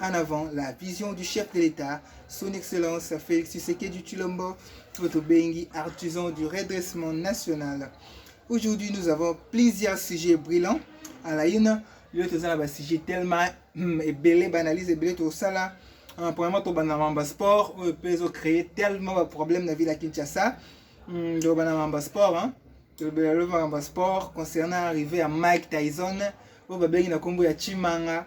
en avant la vision du chef de l'État, son Excellence Félix Tshisekedi Chilombo, notre Bengi, artisan du redressement national. Aujourd'hui, nous avons plusieurs sujets brillants. À la une, le toza na sujet tellement hmm, ebele banalise ebele tosala euh, premièrement tobanda mamba sport oyo mpe ezocreye tellement baproblème na ville ya kinshasa hmm, tobanda mamba sport hein. tolobela lova mamba sport concernant arrivé ya mike tyson oyo babengi na nkombo ya chimanga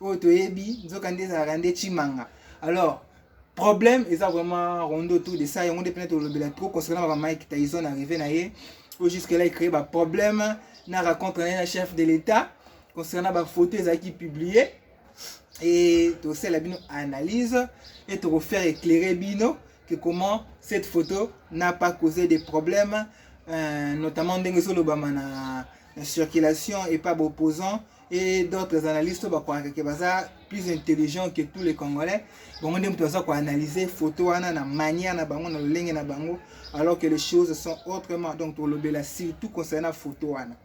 oyo toyebi nzoka nde ezalaka nde chimanga alors problème eza vraiment rondo tour de ça yango nde mpena tolobela trop concernant baba mike tyson arrivé na ye oyo jusque là ecree baproblème na racontre na ye na chef de l'état concernant bafoto ezalaki publié e tosala bino analyse e tokofaire éclaire bino que comment cette photo n'a pas causé des problèmes euh, notamment ndenge ezolobama na, na circulation epa baopposant et d'autres analystes oyo bakwaka ke baza plus intelligent que tous les congolais bango nde moto baza koanalyse photo wana na manière na bango na lolenge na bango alors que les choses sont autrement donc tokolobela surtout concernant photo wana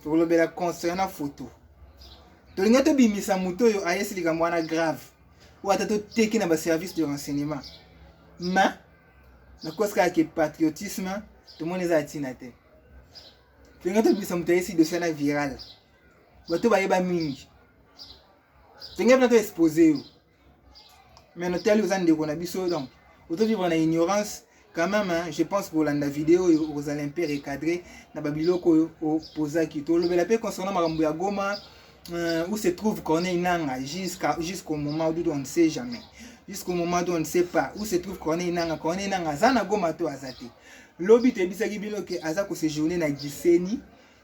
tokolobela concernant photo tolingi tobimisa moto oyo ayesi likambo wana grave oyo ata toteki na baservice de renseignement ma nakosi kaka ke patriotisme tomoni eza ya ntina te tolinga tobimisa moto ayesi dosa na viral bato bayeba mingi tolinga mpena to expose yo mais notali oza ndeko na biso donc otovivre na ignorance quand même hein, je pense kolanda video oyo okozala mpe recadré na babiloko oyo opozaki tolobela mpe concernant makambo ya goma euh, où se trouve corneille nanga jusqu'à jusqu'au moment d'où on ne sait jamais jusqu'au moment d'où on ne sait pas où se trouve corneille nanga corneille nanga aza na goma to aza te lobi toyebisaki bino ke aza ko séjourner na giseni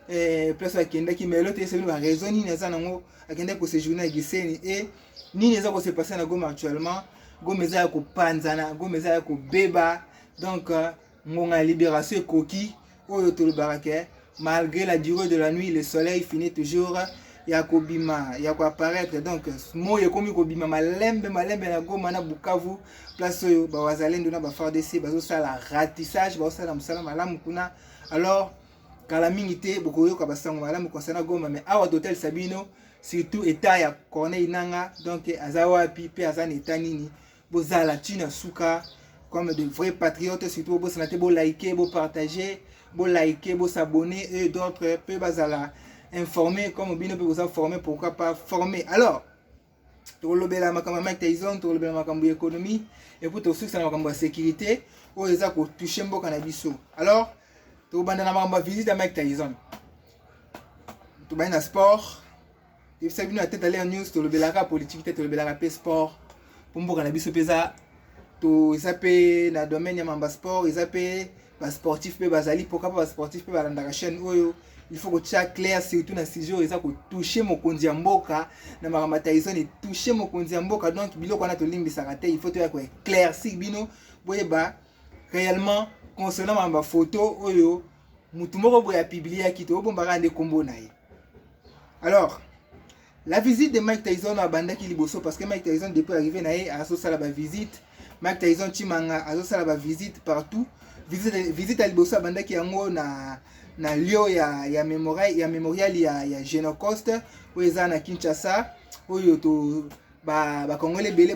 eh, place akendaki mais lelo toyebisa bino baraison nini aza nango akendaki ko séjourner na giseni e eh, nini eza ko se passer na goma actuellement goma eza ya kopanzana goma eza ya kobeba donc euh, ngonga ya libération ekoki oyo tolobaka ke malgré la durée de la nuit le soleil finit toujours ya kobima ya koapparaître donc moi ekomi kobima malembe malembe na goma na bukavu place oyo bawazalendo na bafardc bazosala ratissage bazosala mosala malamu kuna alors kala mingi te bokoyoka basango malamu concernant goma mais awa totalisa bino surtout etat ya corneille nanga donc aza wapi mpe aza na etat nini bozala ti na suka comme de vrais patriotes surtout bobosana te bolike bopartage bolike bosabonne e d'autres mpe bazala informe comme bino mpe boza forme pourquoi pas forme alors tokolobela makambo ya mike tyson tokolobela makambo ya économie epuis tokosukisa na makambo ya sécurité oyo eza kotouche mboka na biso alors tokobanda na makambo ya visite ya mike tyson tobandi na sport yebisa bino ya tete alea news tolobelaka politiki te tolobelaka mpe sport mpo mboka na biso mpe eza to eza mpe na domaine ya mamba sport eza mpe basportif mpe bazali mpoka mpo basportif mpe balandaka chaîne oyo il faut kotya claire surtout na sujet oyo eza kotouche mokonzi ya mboka na makambo ya taison etouche mokonzi ya mboka donc biloko wana tolimbisaka te il faut toya koeclaircir bino boyeba réellement concernant makambo ya photo oyo mutu moko boye apibliaki te obombaka nde kombo na ye alors la visite de mike tyson abandaki liboso parce que mike tyson depuis arrivé na ye azosala bavisite mike tyson chimanga azosala bavisite partout visite, visite ya liboso abandaki yango na na lio ya, ya, memorial, ya memorial ya, ya genocost oyo eza na kinshasa oyo to bakongole ba ebele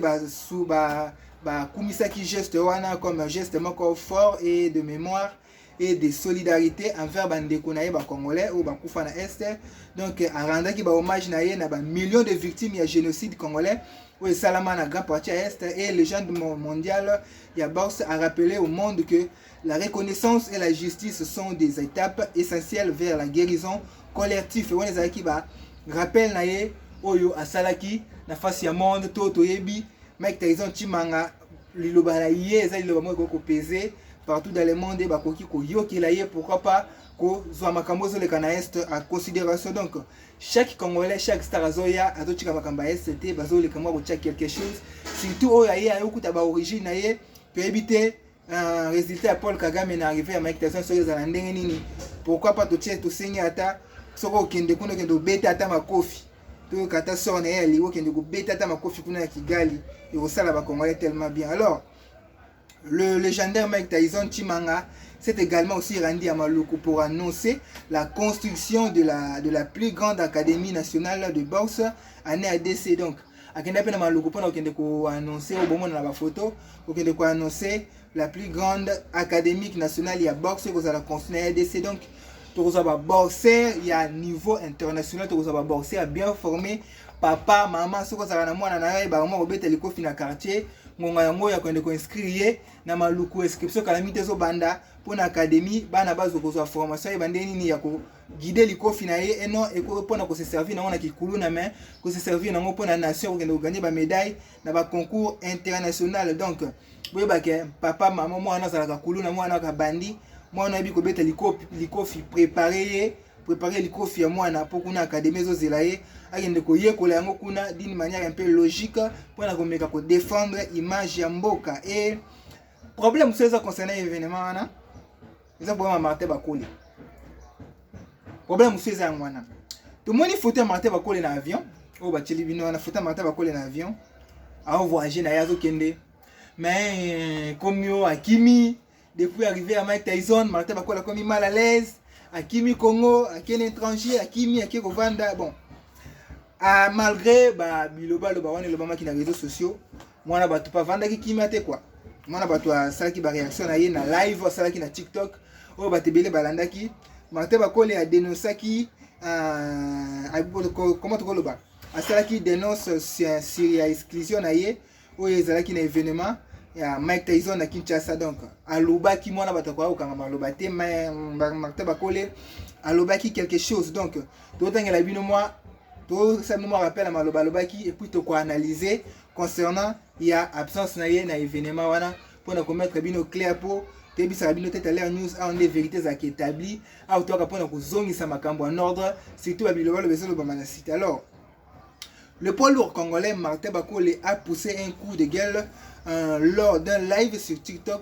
bakumisaki ba, ba geste wana comme geste moko fort et de mémoire et de solidarité envers bandeko na ye bacongolais oyo bakufa na est donc arendaki bahommage na ye na bamillion de victimes ya génocide congolais oyo esalama na grand parti ya est et légende mondiale ya boxe a rappelé au monde que la reconnaissance et la justice sont des étapes essentielles vers la guérison collective wana ezalaki ba rappel na ye oyo asalaki na face ya monde to toyebi mike tyson chimanga liloba na ye eza liloba moko ekoki kopeze partout dans le monde bakoki koyokela ye pourquoi pas kozwa makambo ezoleka na est en considération donc chaque congolais chaque star azoya azotika makambo ya est te bazoleka mwa kotya quelque chose surtout oyo aye aye okuta baorigine na ye toyebi te euh, résultat ya paul kagame na arrivé ya mike tyson soki ezala ndenge nini pourquoi pas totie tosengi ata soki okende kuna okende obeta ata makofi toyoka ata sort na ye ya liwa okende kobeta ata makofi kuna ya kigali ekosala bacongolais tellement bien alors le légendaire mike tyson chimanga s'est également aussi rendu à maluku pour annoncer la construction de la, de la plus grande académie nationale de boxe année adc donc akenda mpe na maluku mpona kokende koannonce obomona na bafoto kokende koannonce la plus grande académique nationale ya boxe ekozala consul na rdc donc tokozwa baboxer ya niveau international tokozwa baboxer ya bien formé papa mama soki ozalaka na mwana na yo ayebaka mwa kobeta likofi na quartier ngonga yango ya kokende koinscrire ye na maluku inscription kalami te ezobanda mpo na académie bana bazo kozwa formation yeba ndenge nini ya koguide likofi na ye eno mpo na koseservir nango na kikuluna mai koseservir nango mpo na nation kokende koganye bamedaille na ba concours international donc boyeba ke papa mama mwana azalaka kuluna mwana akabandi mwana ayebi kobeta likofi, likofi prepare ye prepare likofi ya mwana mpo kuna akademi ezozela ye akende koyekola yango kuna d'une manière un peu logique mpo na komeka kodefendre image ya mboka e problème mosusu eza concerne événement wana eza problème ya martin bakole problème mosusu eza yango wana tomoni foto ya martin bakole na avion oyo batyeli bino wana foto ya martin bakole na avion aovoyage na ye azokende mais komi oyo akimi depuis arrivé ya mike tyson martin bakole akomi mal à l'aise akimi congo akende étranger akimi ake kovanda bon ah, malgré ba bilobaloba wana elobamaki na réseaux sociaux mwana bato pa vandaki kimia te quoi mwana bato asalaki ba réaction na ye na live asalaki na TikTok oyo bato ebele balandaki Martin Bakole a dénoncaki euh, comment tokoloba asalaki dénonce sur ya exclusion na ye oyo ezalaki na événement ya Mike Tyson na Kinshasa donc alobaki mwana bato akoya kokanga maloba te Martin Bakole alobaki quelque chose donc totangela bino mwa tosala bino mwa rappel ya maloba alobaki epuis tokoanalyse concernant ya absence na ye na evenement wana mpo na komettre bino clair mpo toyebisaka bino te taler news awa nde verité ezalaka établi awa toyaka mpo na kozongisa makambo en ordre surtout babilobaloba ezolobama na site alors Le poids lourd congolais Martin Bakole a poussé un coup de gueule euh, lors d'un live sur TikTok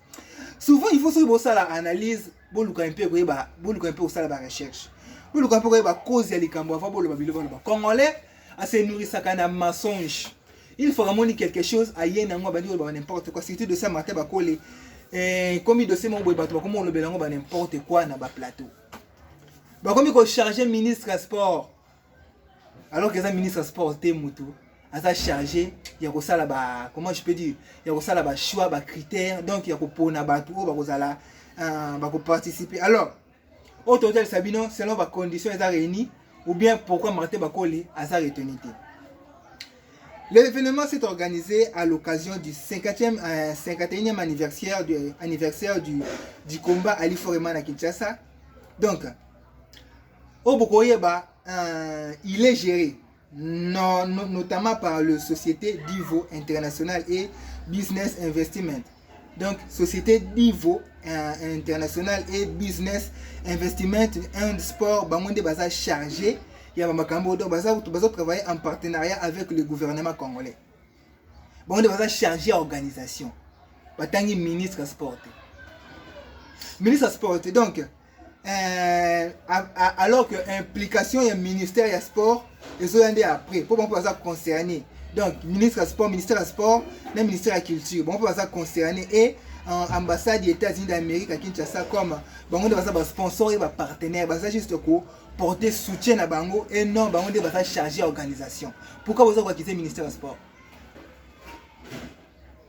souvent il faut soki bosala analyse boluka mpe koyeba boluka mpe kosala ba recherche boluka mpe koyeba cause ya likambo avant boloba biloko baloba congolais asenourisaka na mensonge il faut amoni quelque chose aye nango abandi koloba n'importe quoi surtout de ça martin bakole eh, komi dossier moko boye bato bakomi kolobela yango ba n'importe quoi na baplateau bakomi kocharge ministre ya sport alors que eza ministre ya sport te motu aza chargé ya kosala ba comment je peux dire ya kosala ba choix ba critères donc ya kopona bato oyo bakozala uh, bakoparticiper alors oyo totalisa bino selon ba condition eza réuni ou bien pourquoi martin bakoli aza retenu te L'événement s'est organisé à l'occasion du 50e, euh, 51e anniversaire du, anniversaire du, du combat Ali Foreman à Kinshasa. Donc, oyo bokoyeba euh, il est géré no, no, notamment par le société divo international et business investiment donc société divo euh, international et business investiment and sport bango nde baza chargé ya bamakambo donc baza bazo travailler en partenariat avec le gouvernement congolais bango nde baza chargé ya organisation batangi ministre sport te ministre sport te donc Euh, alors que implication ya ministère ya sport ezoya nde après mpo bango mpe baza concerné donc ministre ya sport ministère ya sport na ministère ya culture bango mpe baza concerné et euh, ambassade ya états-unis d'amérique ya kinshasa comme bango nde baza basponsor ye bapartenaire baza juste ko porter soutien na bango et non bango nde baza chargé ya organisation pourquoi boza koakize ministère ya sport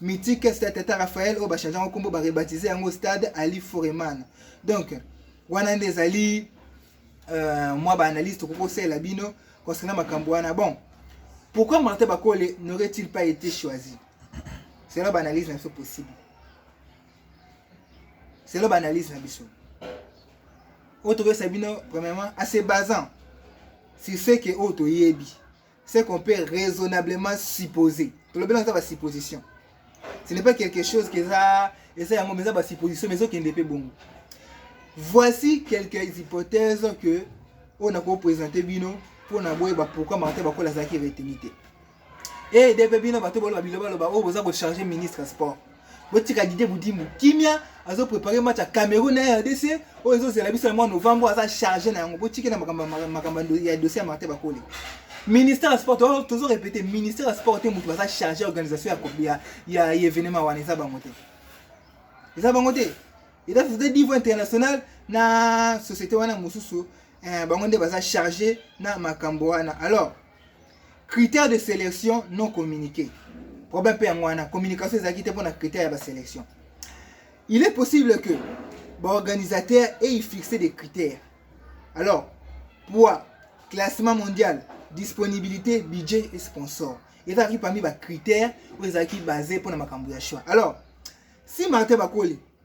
mythique stade tata raphael oyo bachange yango nkombo barebatize yango stade ali foreman donc wana nde ezali uh, mwa baanalyse tokoki kosalela bino concernant makambo wana bon pourquoi martin bakole n'aurait-il pas été choisi selo baanalyse na biso possible selo baanalyse na biso oyo tokoyesa bino premièrement ase basant sur ce ke oyo toyebi ce qu'on peut raisonnablement supposer tolobela eza basupposition ce n'est pas quelque chose que eza eza yango mais eza basupposition mais ezokende mpe bongo voici quelques hypothèses que oyo nakopresente bino mpo na boyeba pourkui martin bakola azalaki reteni te ede mpe bino bato boloba bilobaloba oyo boza kocharge ministre ya sport botika dide budimu kimia azo prépare match ya cameroun na rdc oyo ezozela biso na mwa novembre aza charge na yango botiki na makambo ya dossier ya martin bakoli ministère ya sport tozo répété ministère ya sport te moto baza charge ya organisation ya événement wana eza bango te eza bango te eza société niveau international na société wana mosusu eh, bango nde baza charge na makambo wana alors critère de selection non communiqué problème mpe yango wana communication ezalaki te mpona critère ya baselection il est possible que baorganisateur eye fixe des critères alors poids classement mondial disponibilité budget et sponsor ezalaki parmi bacritère oyo ezalaki base mpona makambo ya choix alors si martin bakoli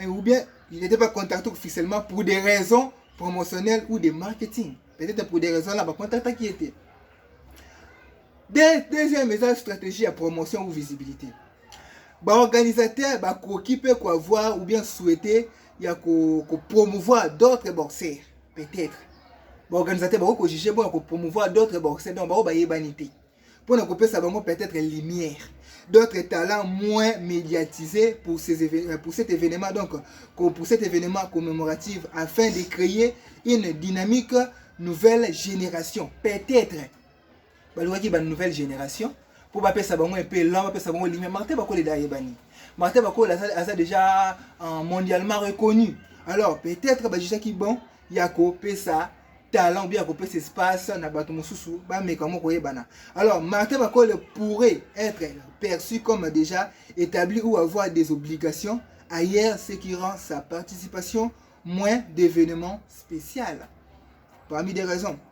Eh, ou bien il n'était pas contacté officiellement pour des raisons promotionnelles ou de marketing peut-être pour des raisons là bacontactaki ye te De, deuxième eza stratégie ya promotion ou visibilité baorganisateur bakoki mpe koavoir ou bien souhaite ya kopromouvoir ko d'autres boxeurs peut-être baorganisateur bakoki kojuge mpo ya kopromouvoir d'autres boxeurs donc baoyo bayebani te mpo na kopesa bango peut-être lumière d'autres talents moins médiatisés pour, ces événements, pour cet événement donc pour cet événement commémoratif afin de créer une dynamique nouvelle génération peut-être balingaki ba nouvelle génération mpo bapesa bango mpe elan bapesa bango lumière martin bakolela ayebani martin bakolela aza déjà euh, mondialement reconnu alors peut-être bajusaki bon ya kopesa talent bien kopesa espace na bato mosusu bameka moko koyebana alors martin bakole pourrait être perçu comme déjà établi ou avoir des obligations ailleurs ce qui rend sa participation moins d'événements spécial parmi des raisons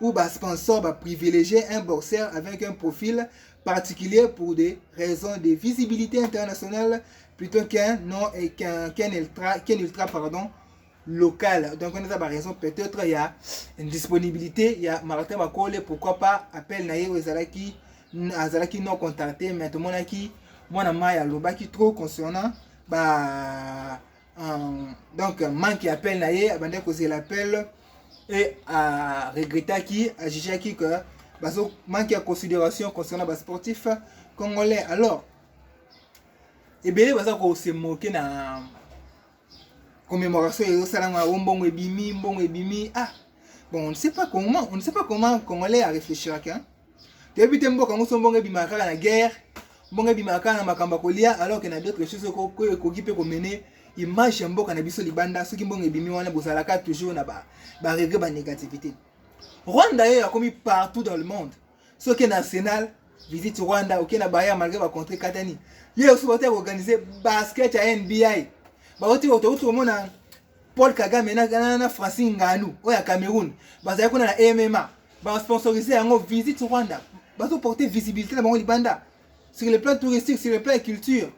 ou ba sponsor ba privilégier un boxeur avec un profil particulier pour des raisons de visibilité internationale plutôt qu'un non et qu'un qu ultra qu'un ultra pardon local donc on a ba raison peut-être il y a une disponibilité il y a Martin Bakole pourquoi pas appel na ye ezalaki azalaki non contacté mais tomonaki mwana mayi alobaki trop concernant ba Um, donc manque ya appel na ye abandaki kozela appel e aregrettaki ajugaki que bazo manque ya considération concernant basportif congolais alors ebele baza kose moke na commémoration ezosala ngo yango mbongo ebimi mbongo ebimi ah bon on ne sait pas comment on ne sait pas comment congolais aréfléchiraki hein? toyebi te mboka yango so mbongo ebimaka kaka na guerre mbongo ebimaka kaka na makambo ya kolia alors que na d'autres choses oyo ekoki mpe komene image ya mboka na biso libanda soki mbongo ebimi wana bozalaka toujours na baregre banégativité rwanda ye akomi partout dans le monde soki na arsenal visite rwanda oke na bayer malgré bacontre katani ye oso bauti ya koorganize basket ya nbi bauti otouti komona Paul Kagame na, na, na Francine Ngannou oyo ya Cameroun bazali kuna na MMA ba sponsoriser yango visite Rwanda bazo porter visibilité na bango libanda sur le plan touristique sur le plan culture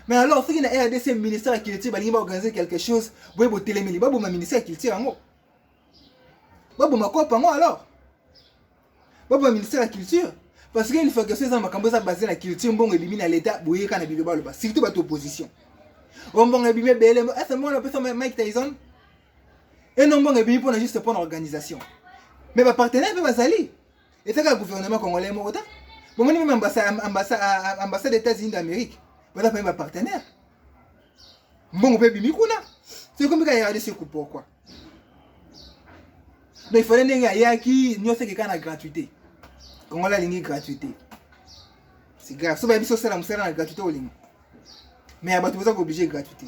mais alors soki na rdc ministère ya culture balingi baorganiser quelque chose boye botelemeli baboma ministère ya culture yango baboma kopa yango alors Babo ba ministère ya culture parce que infiltration eza makambo eza basé na culture mbongo ebimi na leta boyeka na bino baloba surtout bato opposition o mbongo ebimi ebele ese mbongo napesa mike tyson eno mbongo ebimi mpona juste mpona organisation mais bapartenaire mpe bazali ezaka ya gouvernement congolais moko ta bomoni meme ambassade ya états-unis d'amérique baza pame bapartenaire mbongo mpe ebimi kuna soki komika ya rdc pourquoi donc ifale ndenge ayaki nyonso ekeka na gratuité kongola alingi gratuité siga so bayebi sosala mosala na gratuité olinga mais ya bato boza kooblige gratuité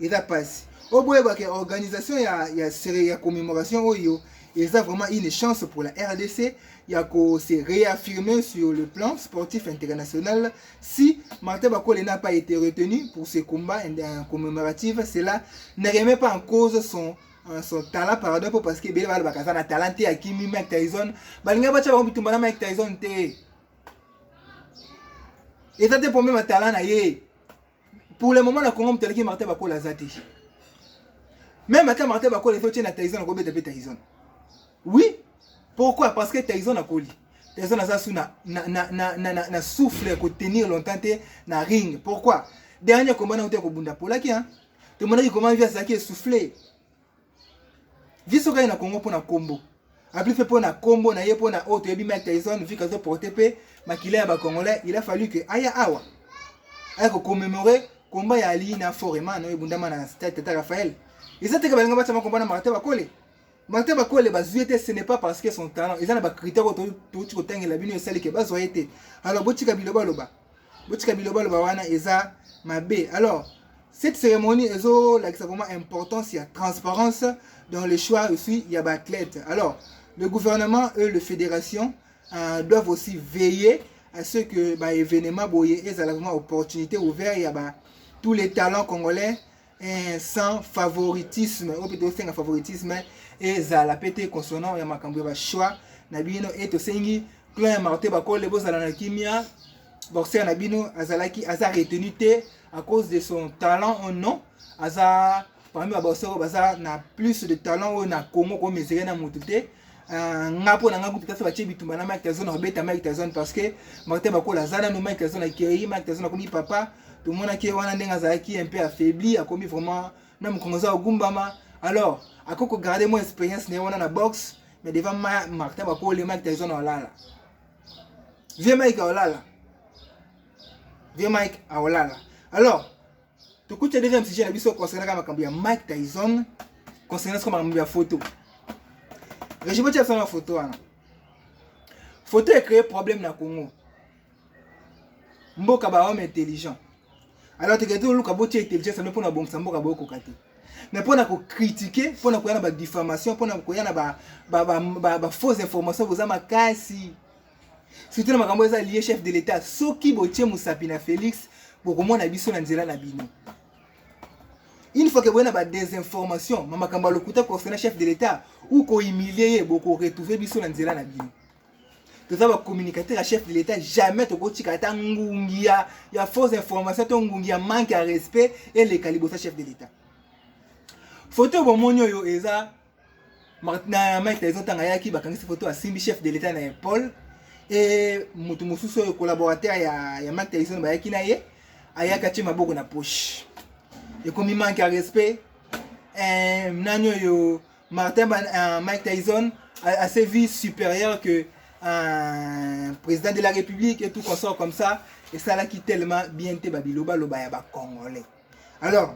eza mpasi oboyeba ke organisation ya, ya, ya commémoration oyo eza vraiment une chance pour la rdc ya ko se réaffirmer sur le plan sportif international Si Martin Bakole n'a pas été retenu pour ses combats euh, commémoratifs, cela ne remet pas en cause son euh, son talent par exemple parce que bele bala bakaza na talent te akimi Mike Tyson balinga bacha bango bitumba na Mike Tyson te eza te problème ya talent na ye pour le moment na Congo moto aleki Martin Bakole aza te même ata Martin Bakole ezo tie na Tyson akobeta mpe Tyson Oui, pourquoi? Parce que Tyson akoli. Tyson aza sous na na na na na, na, na souffle ya ko tenir longtemps te na ring. Pourquoi? Dernier combat na uta ko bunda polaki hein. Te monaki comment via zaki souffle. Via soka na Congo pona combo. Abli fait pona combo na ye pona auto yebi Mike Tyson vu kazo porter pe makila ya ba congolais, il a fallu que aya awa. Aya ko commémorer combat ya Ali na Foreman oyo bundama na stade Tata Raphaël. Eza te ka balinga batama combat na Martin bakole. Martin Bakwele bazwi te ce n'est pas parce que son talent eza na ba critères oyo touti kotangela bino esali ke bazwa ye te alors botika biloba loba botika biloba loba wana eza mabe alors cette cérémonie ezolakisa vraiment importance ya transparence dans le choix aussi ya baathlète alors le gouvernement et le fédération euh, doivent aussi veiller à ce que baévénement boye ezala vraiment opportunité ouvert ya ba tous les talents congolais eh, sans favoritisme oyo mpe tosenga favoritisme ezala mpe te consonant ya makambo ya bachoix na bino e tosengi clan ya marte bakole bozala na kimia boxer na bino azalaki aza retenu te à cause de son talent ou non aza parmi baboxer oyo baza na plus de talent oyo na congo komesere na motu te Ah, nga mpo na nga kutu kasi batye bitumba na mike tazon akobeta mike tazon parce que martin bakola aza nanu mike tazon akei mike tazon akomi papa tomonaki ye wana ndenge azalaki un peu affaibli akomi vraiment na mokongo aza kogumbama alors akoki kogarde mwa expérience na ye wana na boxe mais devant ma martin bakole mike tazon aolala vie mike aolala vie mike aolala alors Tokuti ya deuxième sujet na biso concernant kaka makambo ya Mike Tyson concernant soko makambo ya photo. Régime otia biso na photo wana. Photo ecree problème na Congo. Mboka ba homme intelligent. Alors tokende toluka botia intelligence yango mpo na bongisa mboka bokoka te. mais mpo na kokritike mpo na koya na badifamation mpo na koya na bafausse information boza makasi surtout na makambo eza lie chef de l'etat soki botie mosapi na félix bokomona biso na nzela na bino une fois que boye na badesinformation ma makambo ya lokuta concernant chef de l'etat ou kohumilie ye bokoretrouve biso na nzela na bino toza bacommunicateur ya chef de l'état jamais tokotika ata ngungi ya, ya fausse information to ngungi ya manque ya respect eleka liboso ya chef de l'état foto bomoni oyo eza na Mike Tyson ntango ayaki bakangisi foto asimbi chef de l'etat na ye Paul e moto mosusu oyo collaborateur ya, ya Mike Tyson bayaki na ye ayaki atie maboko na poche ekomi manque ya respect eh, nani oyo Martin Ban, uh, Mike Tyson a, a ses vies supérieures que un président de la République et tout consort comme ça esalaki tellement bien te babilo baloba ya bacongolais alors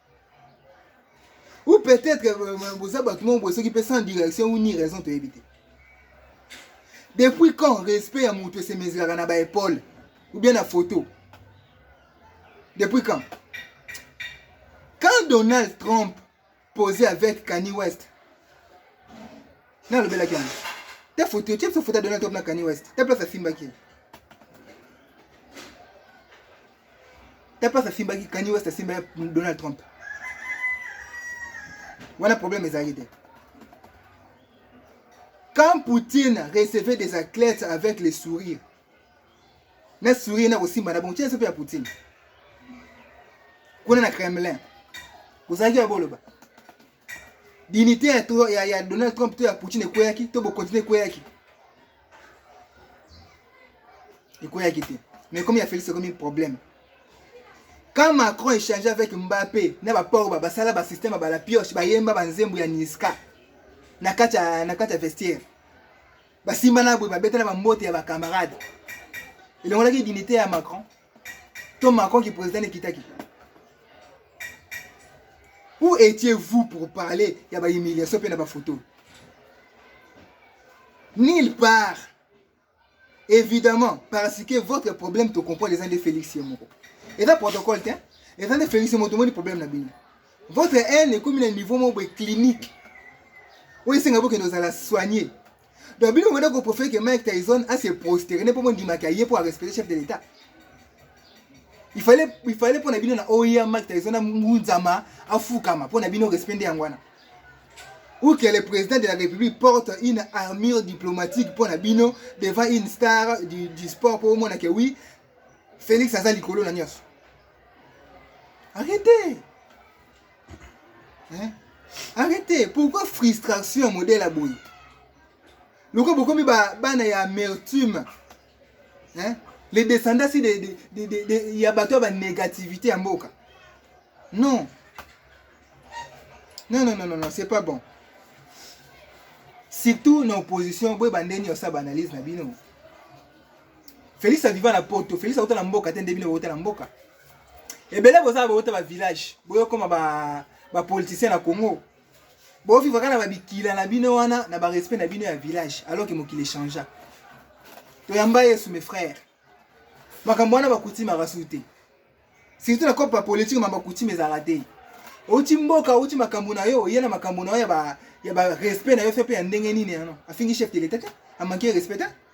ou peut-être euh, euh, boza bato moko boye soki mpe sans direction ou ni raison toyebi te depuis quand respect ya moto esemezelaka na baepole ou bien na photo depuis quand quand donald trump posé avec kani west nalobelaki yango ta photo tie biso photo ya donald trump na kani west ta place asimbaki tapas asimbaki kani west asimba ya donald trump wana problème ezalaki te quand poutine recevait des athlètes avec les sourires na sourire na kosimba na bongo tia sope ya poutine kuna na kremlin kozalaki ya boloba dignité ya, ya, ya donald trump to ya poutine ekweyaki to bokontinue ekweyaki ekoyaki te mais comme ya Felix ekomi problème quand Macron échange avec Mbappé na ba port ba basala ba système ba la pioche ba yemba ba nzembo ya Niska na kati ya na kati ya vestiaire basimba na boye babeta na bambote ya bacamarade elongolaki dignité ya Macron to macron ki président ekitaki où étiez vous pour parler ya ba humiliation mpe na bafoto nulle part évidemment parce que votre problème tocomprendre eza nde félix ye moko eza protocole te eza nde félix ye moko tomoni problème na bino votre haine ekomi na niveau moko boye clinique oyo esenga bokende ozala soigne Donc bino mwana ko profiter que Mike Tyson a se prosterner ne pomo ndima ka ye pour respecter chef de l'État. Il fallait il fallait pona bino na OIA Mike Tyson na munzama afukama pona bino respect nde yangwana. Ou que le président de la République porte une armure diplomatique pona bino devant une star du, du sport pour mona que oui Félix aza likolo na nyoso. Arrêtez hein? arrete pourquoi frustration ya modele ya boye lokola bokomi bana ya amertume hein? les descendants si de, de, de, de, ya bato ya banégativité ya mboka non non non non non, non c'est pas bon surtout na opposition boye bande nyonso ya baanalyse na bino félix aviva na poto félix auta na mboka te nde bino bauta na mboka ebele boza bouta ba village boyokoma ba ba politicien na congo boviva kaka na babikila na bino wana na barespect na bino ya village alors ke mokili echangea toyamba yesu mes frères makambo wana bakutimaka su te surtout na cope ya politike ma bakutime ezalaka te outi mboka outi makambo na yo oye na makambo na yo ya barespect na yo fe mpe ya ndenge nini yano afingi chef de l'etat te amanke respect te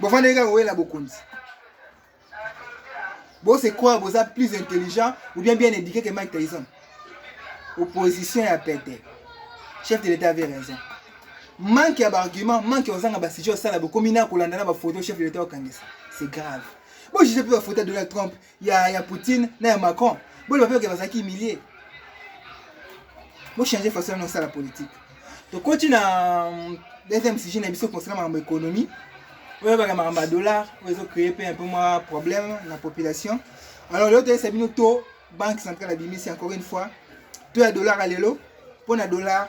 bofandaki kaka koyela bokonzi bose croire boza plus intelligent ou bien bien éduqué que mike tyson opposition ya pete chef de l'état avait raison manque ya baargument manque ya kozanga basujet osala bokomi na kolanda na bafoto chef de l'état okangisa c'est grave bojuge mpe bafoto ya donald trump ya ya Poutine na ya Macron boloba mpe oke bazalaki humilie bochange façon na osala politique tokoti na mm, deuxième sujet na biso concernant makambo économie oyo baka makambo ya dollar oyo ezocreye mpe un peu mwa problème na population alors lelo toyesa bino to banque centrale abimisi encore une fois to ya dollar ya lelo mpo na dollar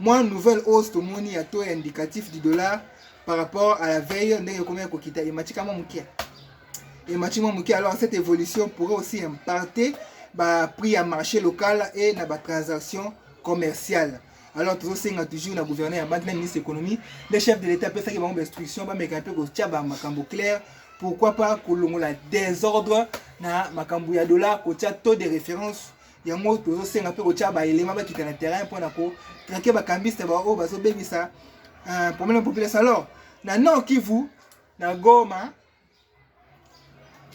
Moi nouvelle hausse tomoni ya taux indicatif du dollar par rapport à la veille ndenge ekomi ya kokita emati kama moke emati mwa moke alors cette évolution pourrait aussi impacter ba prix ya marché local et na ba transactions commerciales alors tozosenga toujours na gouverneur ya banque na ministre économie le chef de l'état apesaki bango bainstruction bameka mpe kotya ba makambo claire pourquoi pas kolongola désordre na makambo ya dollar kotya taux de référence yango tozosenga mpe kotya baelema bakita na terrain mpo na kotrake bakambiste baoyo oh, bazobebisa euh, problème ya population alors na nord kivu na goma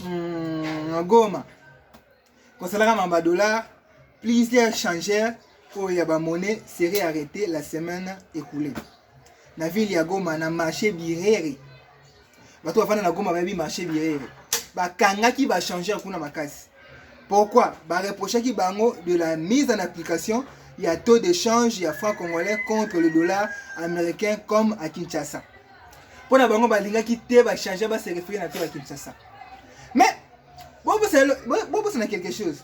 hmm, na goma kosalaka mamba dollar plusieurs changeur oyo ya bamonnaie serait arrêté la semaine écoulée na ville ya goma na marché birere bato bafanda na goma bayebi marché bierere bakangaki bachangeur kuna makasi pourquoi bareprochaki bango de la mise en application ya taux d'échange ya franc congolais contre le dollar américain comme à kinshasa mpo na bango balingaki te bachange baserefere na taux ya kinshasa mais bobosana quelque chose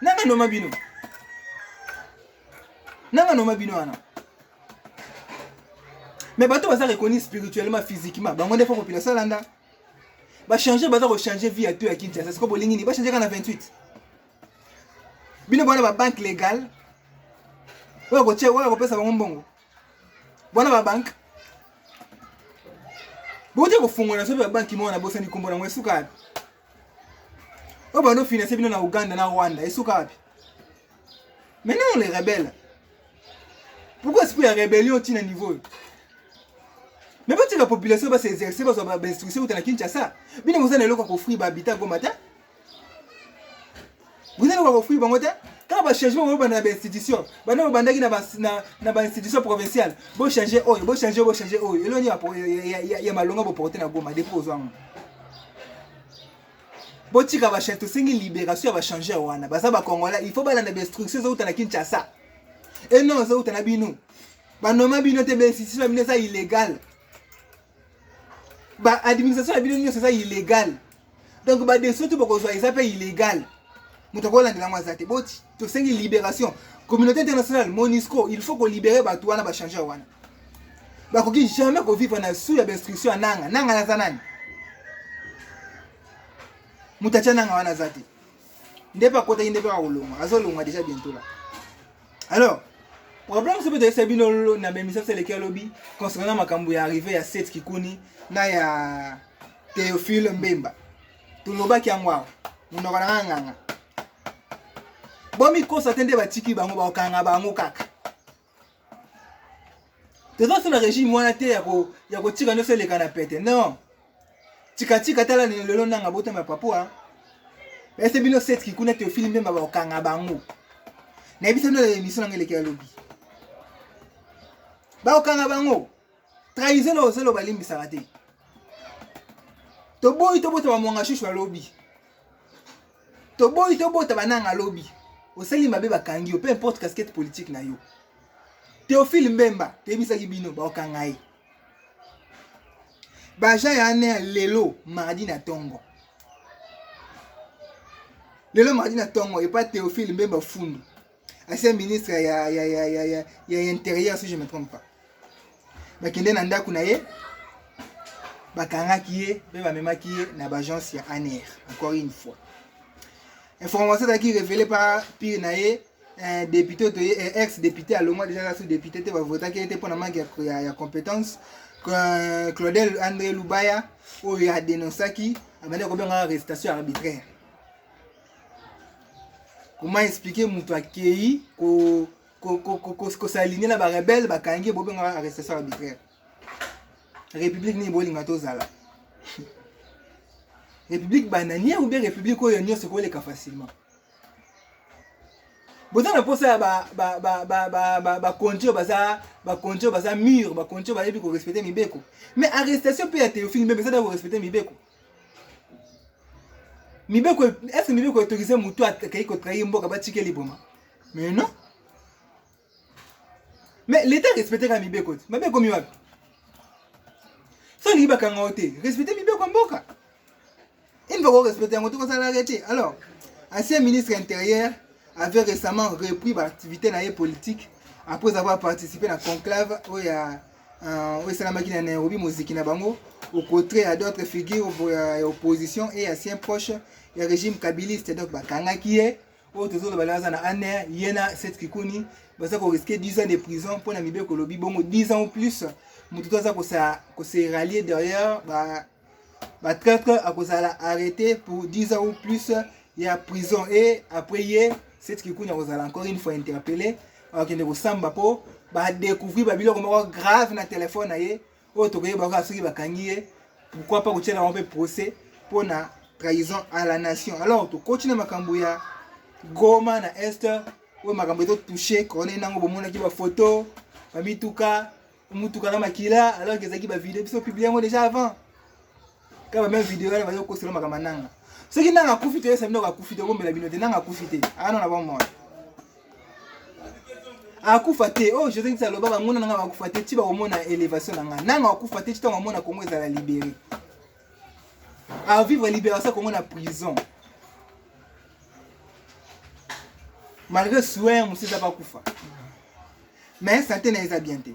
Nanga noma bino. Nanga noma bino wana. Mais bato baza reconnus spirituellement, physiquement. Bango ndefa population landa. Ba changer baza ko changer vie à tout à Kinshasa. C'est quoi bolingi ni ba changer kana 28. Bino bana ba banque légale. Oyo ko che oyo ko pesa bango mbongo. Bana ba banque. Bote ko fongola soki ba banque mona bosani kombo na ngwe suka. oyo bando finance bino na uganda na rwanda esuka wapi maintenant les rebelles pourquoi esprit ya rébellion otii na niveau oyo mais botika population base exerce bazwa bainstruction uta na kinshasa bino boza na eloko ya kofri bahabita goma te Vous allez voir fruit bango te. Kaka ba changement oyo banda na ba institution. Banda oyo bandaki na ba na, na ba institution provinciale. Bo changer oyo, bo changer, bo changer oyo. Eloni ya ya, ya, ya malonga bo porter na Goma depuis ozango. Bo tika ba changer tosengi liberation ya ba changer wana. Baza ba Congolais, il faut balanda ba instructions zo uta na Kinshasa. Et non zo uta na bino. Ba noma bino te ba institution bino eza illégal. ba administration na bino nyonso eza illégal donc badeso to bakozwa eza mpe illégal moto akolandela yango aza te boti tosengi libération communauté internationale monisco il faut kolibere bato wana bachangeur wana bakoki jamais kovivre na sous ya bainstruction ya nanga nanga naza nani moto atya nanga wana aza te nde mpe akotaki nde mpe akolongwa azolongwa deja bientôt la alors problème soki toyesa bino na bemisa biso eleki alobi concernant na makambo ya arrive ya set kikuni na ya théophile mbemba tolobaki yango awa monoko na nga nganga bomikosa te nde batiki bango bakokanga bango kaka toza so na régime wana te ya kotika nyonso eleka na pete non tikatika tala lelo nanga botama papua ese bino setki kuna teofili mbemba bakokanga bango nayebisa bino na emission nanga eleki ya lobi bakokanga bango trahison na ozelo balimbisaka te toboyi tobota bamwanga shushu alobi toboyi tobota bananga alobi osali mabe bakangi yo peu importe casquette politique na yo teofile mbemba toyebisaki bino bakokanga ye baja ya ane ya lelo mardi na ntongo lelo mardi na ntongo epa théophile mbemba fundu ancien ministre ya, ya, ya, ya, ya, ya interieur si je me trompe pas bakende na ndako na ye bakangaki ye mpe bamemaki ye na baagence ya aner encore une fois information ezalaki révélé par pire na ye eh, député oyo toye eh, ex député alongwa deja kaka so député te bavotaki ye te mpo na manque ya, ya, ya compétence euh, claudel andré lubaya oyo adenonsaki abandi kobengaka arrestation arbitraire koma explike moto akei kosaline na barebele bakangi bobengaka arrestation arbitraire république nini bolinga tozala république bananière ou bien république oyo nyonso ekoleka facilement boza na mposa ya bakonti oyo baza bakonti oyo baza mur bakonti oyo bayebi korespecte mibeko mais arrestation mpe ya théophile mbembe ezali ya korespecte mibeko mibeko est ce mibeko autorise motu akei kotrahi mboka batike liboma mais non mais leta respecteka mibeko te mabe ekomi wapi so olingi bakanga yo te respecte mibeko ya mboka une fois korespecte yango te kosalaka te alors ancien ministre intérieur avait récemment repris baactivité na ye politique après avoir participé na conclave oyo ya euh, oyo esalamaki na nairobi moziki na bango au contraire ya d'autres figures ya opposition et ancien proche ya régime kabiliste donc bakangaki ye oyo tozoloba lelo aza na aner ye na set kikuni baza koriske 10 ans de prison mpo na mibeko olobi bongo 10 ans ou plus moto to aza kose rallier derrière ba batraitre akozala arrêté pour 10 ans ou plus ya prison et après ye set kikuni akozala encore une fois interpellé akende kosamba mpo badécouvrir babiloko moko grave na telefone na ye oyo tokoyeba kaka soki bakangi ye pourquoi pas kotyela yango mpe procès mpo na trahison à la nation alors tokoti na makambo ya goma na est oyo makambo ezotouche corne nango bomonaki bafoto bamituka motuka na makila alors ezalaki bavideo biso publie yango déjà avant kaba meme video yale bayo kosela makama nanga soki nanga akufi te yesa bino akufi te bombela bino te nanga akufi te ana na bomona akufa te oyo oh, josé ngisa aloba banguna nanga bakufa te ti bakomona elevation na ngai nanga akufa te ti ntango amona kongo ezala libere avivre libération kongo na prison malgré soin mosusu eza bakufa mais sante na eza bien te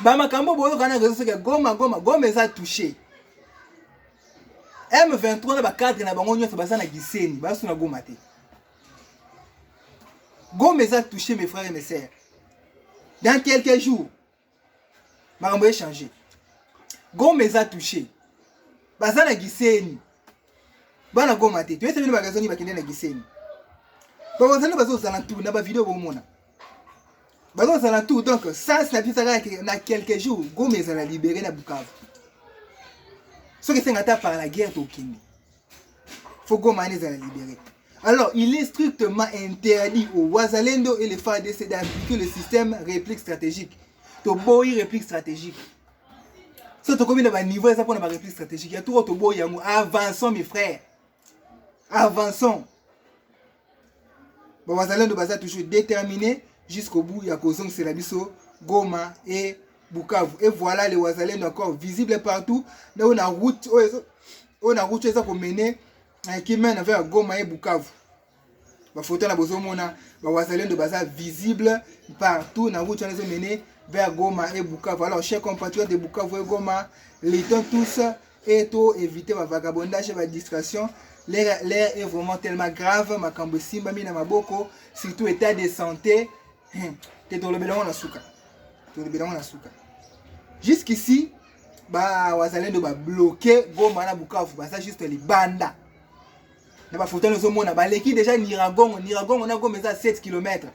ba makambo boyoka na réseau soki ya goma goma goma eza touche m23 na bacadre na bango nyonso baza na giseni basu na goma te goma eza touche mes frères et mes sœurs dans quelques jours makambo echange goma eza touche baza na giseni bana goma te toyesa bino bagazo nini bakende na giseni bakozali bazozala ntu na bavideo bomona bazozala tout donc sas na biso ezalaka na quelques jours goma ezala libere na bukavu soki esenga ata par la guerre tokende fo goma wana ezala libere alors il est strictement interdit au wazalendo et le fardc d'appliquer le système réplique stratégique toboyi réplique stratégique so tokomi na baniveau eza mpona baréplique stratégique ya toko toboyi yango avançons mes frères avançons bawazalendo baza toujours déterminé jusqu'au bout ya kozongisela biso goma e bukavu e voilà le wazalendo encore visible partout ndao na route oyo na route oyo eza komene kimene vers goma e bukavu bafoto na bozomona bawazalendo baza visible partout na route wana ezomene vers goma e bukavu alors chers compatriotes de bukavu e goma luttons tous et to éviter bavagabondage badistraction l'air est vraiment tellement grave makambo esimbami na maboko surtout état de santé hmm, te tolobela yango na suka tolobela yango na suka jusqu'ici bawazalendo babloke goma na bukavu baza juste libanda na bafoto nazomona baleki deja niragongo niragongo na goma eza 7 km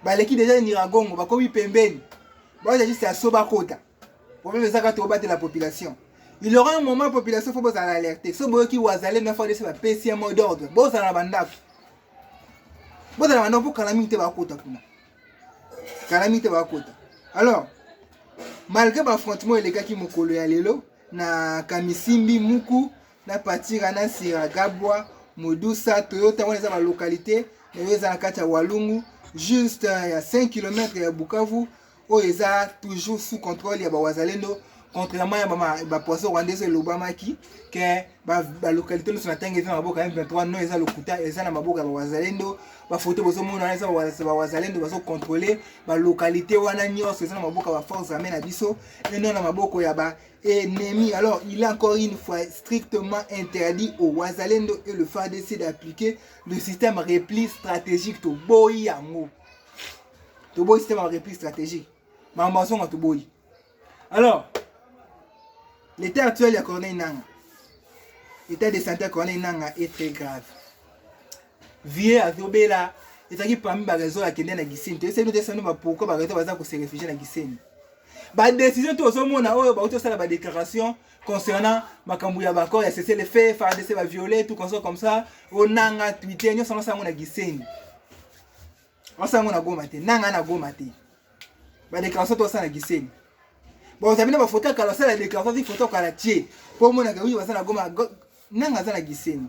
baleki deja niragongo bakomi pembeni baoza juste ya so bakota problème eza kaka tobatela population il aura un moment population fo bozala alerte so boyoki wazale na fadc bapesi ya mot d'ordre bozala na bandako bozala bandako mpo kala mingi te bakota kuna kala mingi te bakota alors malgré baaffrontement elekaki mokolo ya lelo na kamisimbi muku na patira na nsira gabwa modusa toyota wana eza balocalité nayo eza na kati ya walungu juste euh, ya 5 km ya bukavu oyo eza toujours sous contrôle ya bawazalendo contrairement ya bapoisson rwandais oyo elobamaki ke balocalité nyonso na ntango eza na maboko ya m23 no eza lokuta eza na maboko ya bawazalendo bafoto bozomona wana eza bawazalendo bazocontrole balocalité wana nyonso eza na maboko ya baforce armée na biso eno na maboko ya ba ennemi. Alors, il est encore une fois strictement interdit au Wazalendo et le FADC d'appliquer le système repli stratégique to boyi yango. To boyi système repli stratégique. Mambason to boyi. Alors, l'état actuel ya Corneille Nanga, l'état de santé ya Corneille Nanga est très grave. vie azobela ezalaki parmi ba raison akende na giseni toyesaki no tesano ba pourquoi ba raison baza kose réfugie na giseni ba décision to ozomona oyo bauti osala ba déclaration concernant makambo ya baccord ya cessez le feu fardc ba viole tout comme ça comme ça onanga twitter nyonso yango sango na giseni Wasala yango na Goma te, nanga na Goma te. Ba déclaration to sala Gisenyi. Bon, ozabi na ba photo kala sala déclaration ti photo kala tie. Po mona ka oui wasala Goma nanga za na Gisenyi.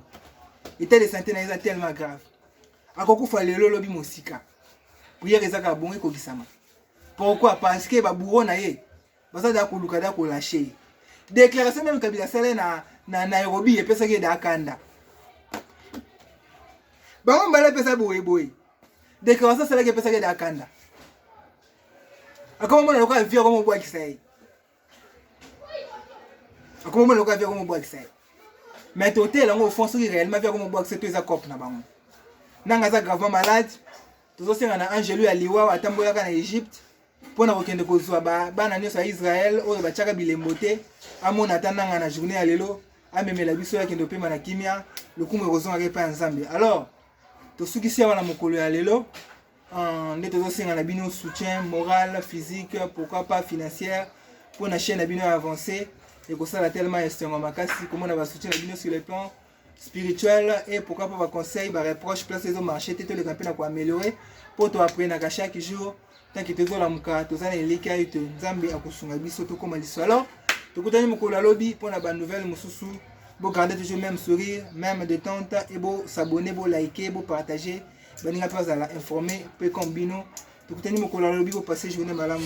État de santé na eza tellement grave. Akokufa lelo lobi mosika. Prière ezaka bongo ekokisama. Pourquoi? Parce que ba bourreaux na ye baza da koluka da kolashe ye déclaration meme kabila asala na, na nairobi epesaki ye da kanda bango mbala epesa boyeboye déclaration asalaki epesaki ye da kanda akoma mona lokola vie akoma obwakisa ye akoma mona lokola vie akoma obwakisa ye mais totela yango ofond soki réellement vie akoma obwakisa to eza cope na bango nanga aza gravement malade tozosenga na angelu ya liwa atambolaka na egypte mpo na kokende kozwa bana nyonso ya Israele oyo batyaka bilembo te, amona ata nanga na journée ya lelo, amemela biso ya kende opema na kimia, lokumu ekozongaka epai ya Nzambe. Alors tosukisi awa na mokolo ya lelo euh, nde tozosenga na bino soutien moral, physique, pourquoi pas financière mpo na chaîne na bino ya avance ekosala tellement esengo makasi komona basoutien na bino sur le plan spirituel et pourquoi pas ba conseil ba reproche place ezo marché te toleka mpe na ko améliorer mpo to apprenaka chaque jour tanki tozolamuka toza na elikia ete nzambe akosunga biso tokóma liso alors tokutani mokolo alobi mpo na banouvelle mosusu bogarde toujours même sourire même détente e bosabone bolike bopartage baninga mpe bazala informe mpe comme bino tokutani mokolo ya lobi kopase journée malamu